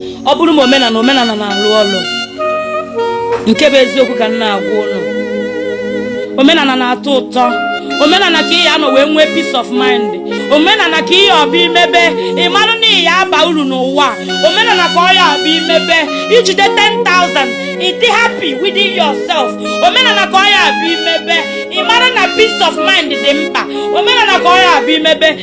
ọ bụrụ ma omenala omenala na-alụ ọlụ nke bụ eziokwu ka m na-agwa unu omenala na-atọ ụtọ omenala ka ị ya anọ wee nwee peace of mind omenala ka ọ ya abụ i mebe ị marụ na ị ya aba uru n'ụwa omenala ka ọ ya abụ i mebe i jide 10,000 ị dị happy within yourself omenala ka ọ ya abụ i mebe ị marụ na peace of mind dị mkpa omenala ka ọ ya abụ i mebe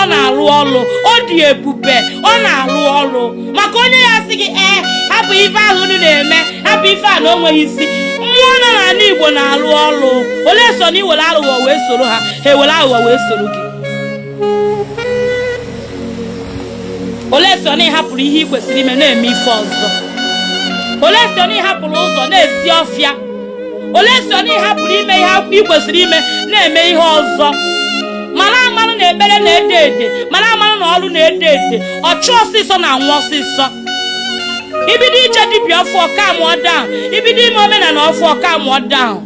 ọ na-alụ ọlụ ọ dị ebube ọ na-alụ ọlụ maka onye ya asị gị ee hapụ ife ahụ unu na-eme hapụ ife a na o nweghị isi mmụọ nọ n'ala igbo na-alụ ọlụ unless na i were aghụghọ wee soro ha ha ewere aghụghọ wee soro gị unless na ị hapụrụ ihe ị kwesịrị ime na-eme ife ọzọ unless na ị hapụrụ ụzọ na-esi ọfịa unless na ị hapụrụ ime ihe ị kwesịrị ime na-eme ihe ọzọ mara amanụ na ekpere na-ede ede mara amanụ na ọlụ na-ede ede ọchụ ọsịsọ na-anwụ ọsịsọ i bido ije dibịa ọfụọ calmụọ down i bido ime omenala ọfụọ calmụọ down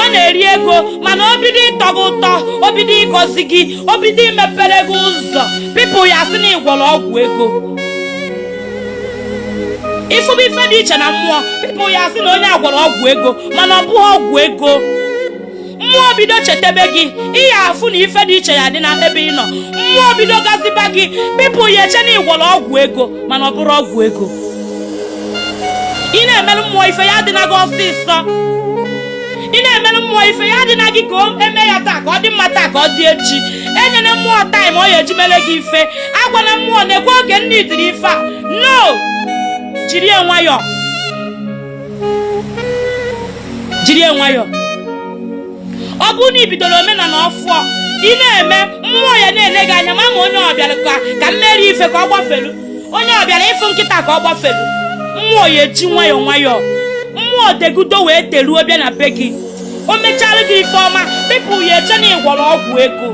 ọ na-eri ego mana o bido ịtọ gị ụtọ o bido ịgọzi gị o bido imepere gị ụzọ people ya asị na ị gwọrọ ọgwụ ego ị fụba ife dị iche na mmụọ people ya asị na onye a gwọrọ ọgwụ ego mana ọ bụrọ ọgwụ ego mmụọ bido chetebe gị ị ya afụ na ife dị iche ya adị na ebe ị nọ mmụọ bido gọziba gị people ya eche na ị gwọrọ ọgwụ ego mana ọ bụrọ ọgwụ ego ị na-emerụ mmụọ ife ya adịna gị ọsịsọ ị na-emere mmụọ ife ya adịna gị ka e mee ya taa ka ọ dị mma taa ka ọ dị echi enyena mmụọ time ọ ya eji mere gị ife agwana mmụọ na-ekwe oge m needịrị ife a no jiri ya nwayọọ jiri ya nwayọọ ọ bụrụ na ị bidoro omenala ọfụọ ị na-eme mmụọ ya na-ele gị anya ma ma onye ọ bịara ka ka m mere ife ka ọ gbafelu onye ọ bịara ịfụ nkịta ka ọ gbafelu mmụọ ya eji nwayọọ nwayọọ mmụọ degudo wee deruo bịa na be gị o mechara gị ife ọma people ya eche na ị gwọrọ ọgwụ ego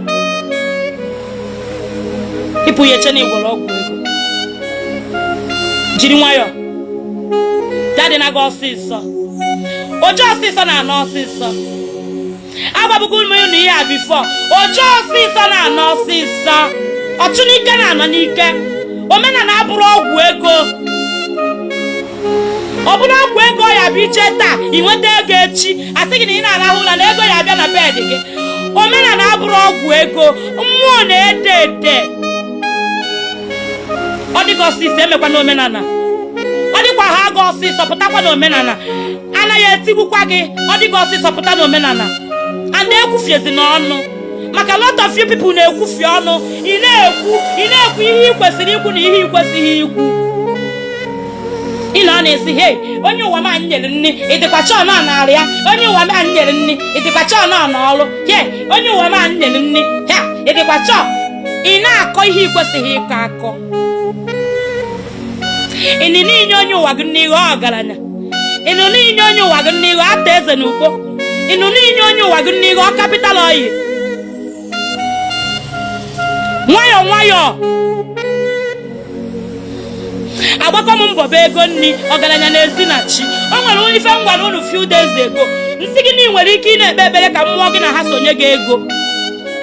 people ya eche na ị gwọrọ ọgwụ ego jiri nwayọọ ya adịna gị ọsịsọ oje ọsịsọ na-anọ ọsịsọ agwabugo m unu ihe a before oje ọsịsọ na-anọ ọsịsọ ọchụ n'ike na-anọ n'ike omenala abụrọ ọgwụ ego ọ bụrụ ọgwụ ego ya bụ iche taa ị nweta ego echi a sị gị na ị na-arahụ ụra na ego ya abịa na bed gị omenala abụrọ ọgwụ ego mmụọ na-ede ede ọ dị gị ọsịsọ emekwana omenala ọ dịkwaa gị ọsịsọ pụtakwa na omenala anaghị etigbukwa gị ọ dị gị ọsịsọ pụta n'omenala a ekwufiezina ọnụ maka lot of you people na-ekwufie ọnụ ị na-ekwu ị na-ekwu ihe ị kwesịrị ikwu na ihe ị kwesịghị ikwu ị na ọ na-asị he onye ụwa m anyị nyere nni ị dịkwa sure na ọ nara ya onye ụwa m anyị nyere nni ị dịkwa sure na ọ nọ ọrụ he onye ụwa m anyị nyere nni ha ị dịkwa sure ị na-akọ ihe ị kwesịghị ịkọ akọ ị nụ na i nye onye ụwa gị nni ị ghọọ ọgaranya ị nụ na i nye onye ụwa gị nni ị ghọọ arthur eze na ukpo ị nụ na i nye onye ụwa gị nni ị ghọọ capital oil nwayọọ nwayọọ agbaka m mbọ bụ ego nni ọgaranya na-esi na chi o nwere onye ife m gwara unu few days ago m sị gị na ị nwere ike ị na-ekpe ekpere ka mmụọ gị na ha so nye gị ego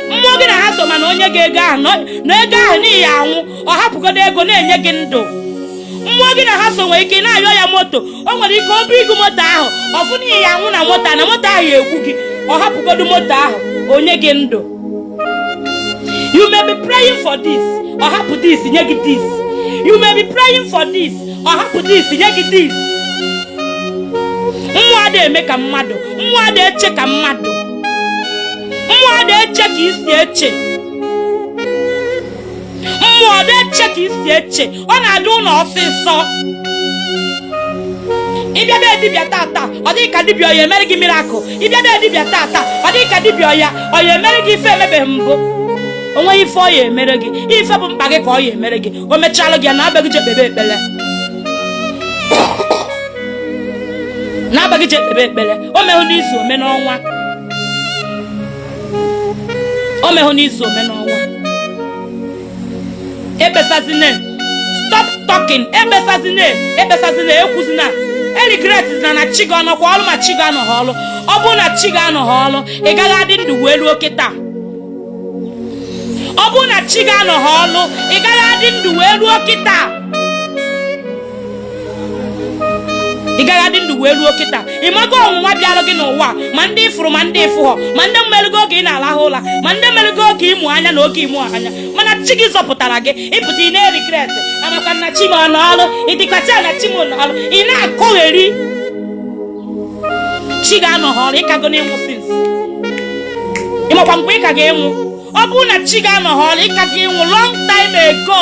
mmụọ gị na ha so ma na o nye gị ego ahụ na ego ahụ na ị ya-anwụ ọ hapụgodo ego na-enye gị ndụ mmụọ gị na ha so nwere ike ị na-ayọ ya moto o nwere ike ọ bụ i go moto ahụ ọ fụ na ị ya-anwụ na moto a na moto ahụ ya-egbu gị ọ hapụgodo moto ahụ o nye gị ndụ you may be praying for this ọ hapụ this nye gị this you may be praying for this ọ hapụ this nye gị this mmụọ ada eme ka mmadụ mmụọ ada eche ka mmadụ mmụọ ada eche ka i si eche mmụọ adị eche ka i si eche ọ na-adị unu ọsịsọ ị bịa be dibịa tata ọ dị gị ka dibịa ọ ya-emere gị miracle ị bịa be dibịa tata ọ dị gị ka dibịa ọ ya ọ ya-emere gị ife emebeghị mbụ o nweghị ife ọ ya-emere gị ife bụ mkpa gị ka ọ ya-emere gị o mechalụ gị ya naba gị je kpebe ekpere naba gị je kpebe ekpere o mehụ n'izu o me n'ọnwa o mehụ n'izu o me n'ọnwa ekpesazine stop talking ekpesazine ekpesazine ekwuzina eregretzina na chi gị ọ nọkwa ọrụ ma chi gị anọghị ọrụ ọ bụrụ na chi gị anọghị ọrụ ị gaghị adị ndụ wee ruo kịta ọ bụrụ na chi gị anọghị ọrụ ị gaghị adị ndụ wee ruo kịta ị gaghị adị ndụ wee ruo kịta ị mago ọnwụnwa bịara gị n'ụwa ma ndị ị fụrụ ma ndị ị fụghọ ma ndị mmerụgo oge ị na-alahụ ụla ma ndị mmerụgo oge ị mụ anya na oge ị mụ anya mana chi gị zọpụtara gị ị pụta ị na-eregret amakwa na chi m ọ nọ ọrụ ị dịkwa sure na chi m ọ nọ ọrụ ị na-akọgheri chi gị anọghị ọrụ ị kago anwụ since ị makwa mgbe ị ka ga-anwụ ọ bụrụ na chi gị anọghị ọrụ ị ka ga-anwụ long time ago